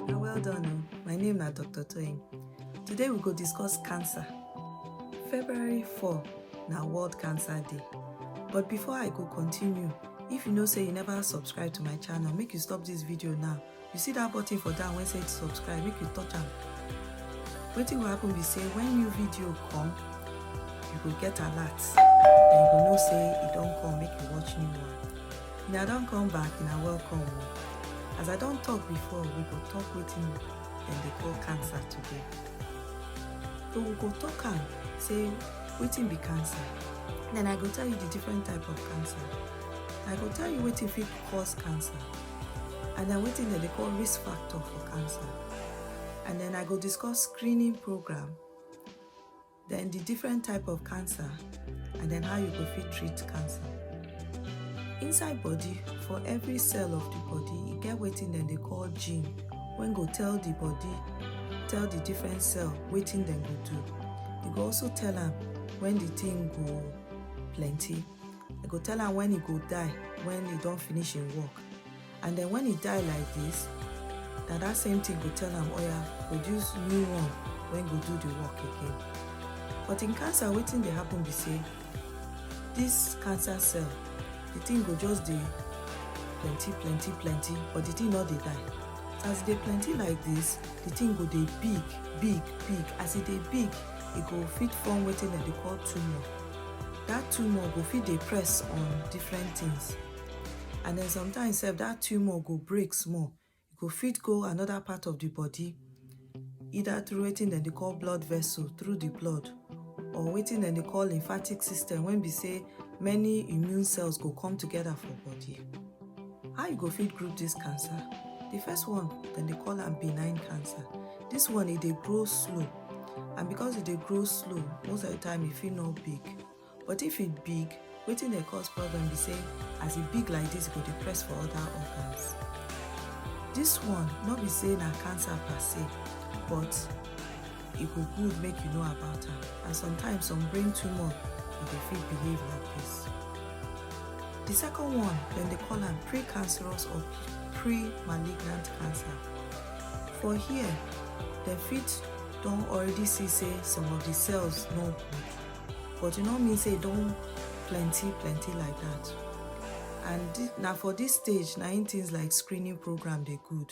na well done o my name na dr toyin today we go discuss cancer february 4 na world cancer day but before i go continue if you know say you never subscribe to my channel make you stop this video now you see that button for down wey say subscribe make you touch am wetin go happen be say when new video come you go get alert and you go know say e don come make you watch new one na i don come back na welcome o oh. as i don talk before we go talk wetin dem dey call cancer today so we go talk am say wetin be cancer then i go tell you the different type of cancer i go tell you wetin fit cause cancer and then wetin dem dey call risk factor for cancer and then i go discuss screening program then the different type of cancer and then how you go fit treat cancer inside body for every cell of the body e get wetin dem dey call gene wey go tell the body tell the different cell wetin dem go do e go also tell am when the thing go plenty I go tell am when he go die, when he don finish him work. And then when he die like this, na that same thing go tell am, oh yeah, produce new one when go do the work again. But in cancer, wetin dey happen be say, this cancer cell, the thing go just dey plenty, plenty, plenty, but the thing no dey die. As e dey plenty like this, the thing go dey big, big, big. As e dey big, e go fit form wetin dem dey call tumor. that tumor go fit dey press on different things and then sometimes sef that tumor go break small e go fit go another part of the body either through wetin dem dey call blood vessel through the blood or wetin dem dey call lymphatic system when be say many immune cells go come together for body How you go fit group dis cancer? Di first one, dem dey call am benign cancer. Dis one e dey grow slow and because e dey grow slow, most of di time e fit no big. But if e big, wetin dey cause problem be sey as e big like dis, e go dey press for oda organs. Dis one no be sey na cancer per se but. e go good make you know about am and sometimes some brain tumor e dey fit behave like this. The second one dem dey call am precancerous or pre-malignant cancer. For here dem fit don already see say some of the cells no good but e no mean say e don plenty plenty like that and na for this stage na im things like screening program dey good.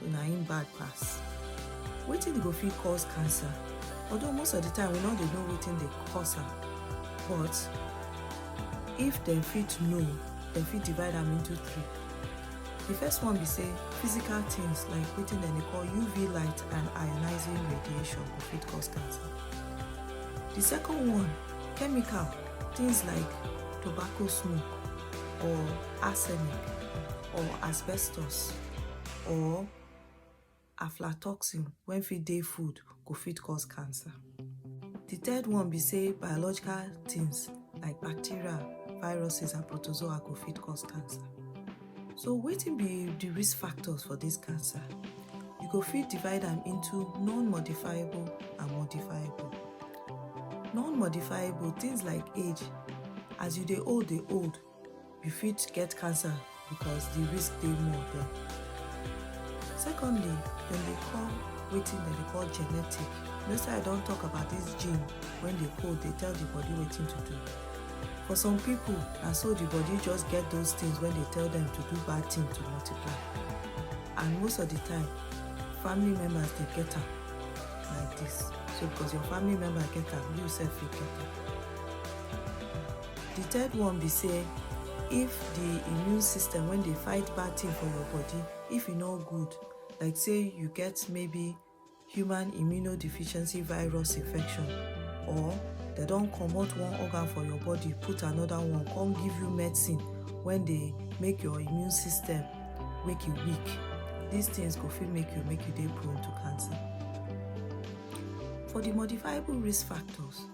so na im bad pass wetin go fit cause cancer although most of the time we no dey know wetin dey cause am but if dem fit know dem fit divide am into three the first one be say physical things like wetin dem dey call uv light and ionizing radiation go fit cause cancer the second one chemical things like tobacco smoke or arsenic or asbestos or aflatoxin wey fit dey food go fit cause cancer. Di third one be sey biological tins like bacteria, viruses and protozoa go fit cause cancer. So wetin be di risk factors for dis cancer? You go fit divide am into non-modifiable and modifiable. Non-modifiable tins like age, as you dey old dey old, You fit get cancer because the risk dey more there. Secondly, dem dey call wetin dem dey call genetic. Next time I don talk about this gene when dey code dey tell the body wetin to do. For some people, na so the body just get those things when dey tell them to do bad thing to multiply. And most of the time, family members dey get am like this. So because your family member get am, you sef fit get am. Di third one be say if di immune system wey dey fight bad thing for your body if e no good like say you get maybe human immunodeficiency virus infection or dem don comot one organ for your body put another one come give you medicine wey dey make your immune system make e weak these things go fit make you make you dey prone to cancer. For di modifiable risk factors.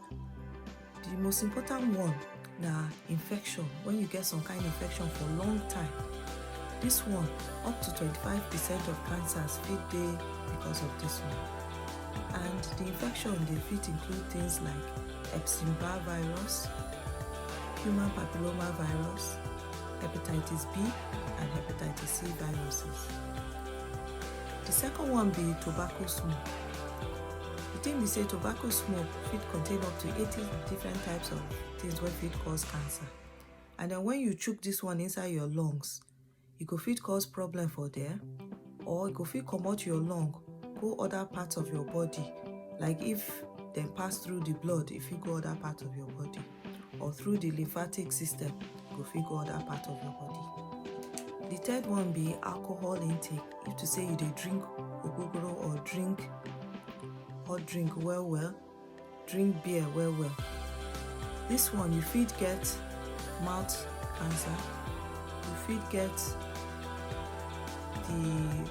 The most important one na infection when you get some kind infection for long time. This one up to 25 percent of cancers fit dey because of this one and the infection dey fit include things like Epstein-Barr virus, human papilloma virus, hepatitis B and hepatitis C viruses. The second one be tobacco smoke. The thing be say tobacco smoke fit contain up to 80 different types of things wey fit cause cancer. And then when you chook this one inside your lungs, e go fit cause problem for there or e go fit comot your lung go other parts of your body like if dem pass through the blood, e fit go other parts of your body. or through the lymphatic system go fit go other part of your body the third one be alcohol intake if to say you dey drink ogogoro or drink hot drink well well drink beer well well this one you fit get mouth cancer you fit get the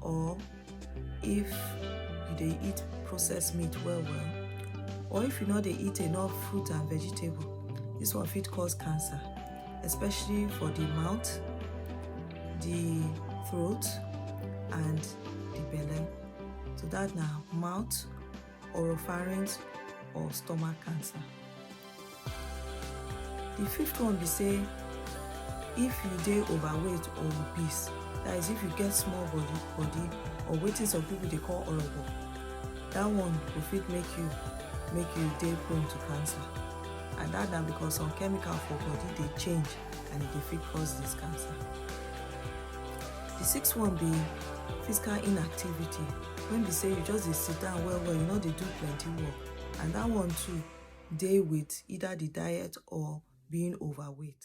or if you dey eat processed meat well well or if you no dey eat enough fruit and vegetable this one fit cause cancer especially for the mouth the throat and the belly so that na mouth oropharynx or stomach cancer. The fifth one be say if you dey overweight or obese that is if you get small body body or wetin some people dey call orobo that one go fit make you make you dey prone to cancer and that na because some chemical for body dey change and e dey fit cause this cancer. The sixth one be physical inactivity when be say you just dey sit down well well, you no dey do plenty work and that one too dey with either the diet or being overweight.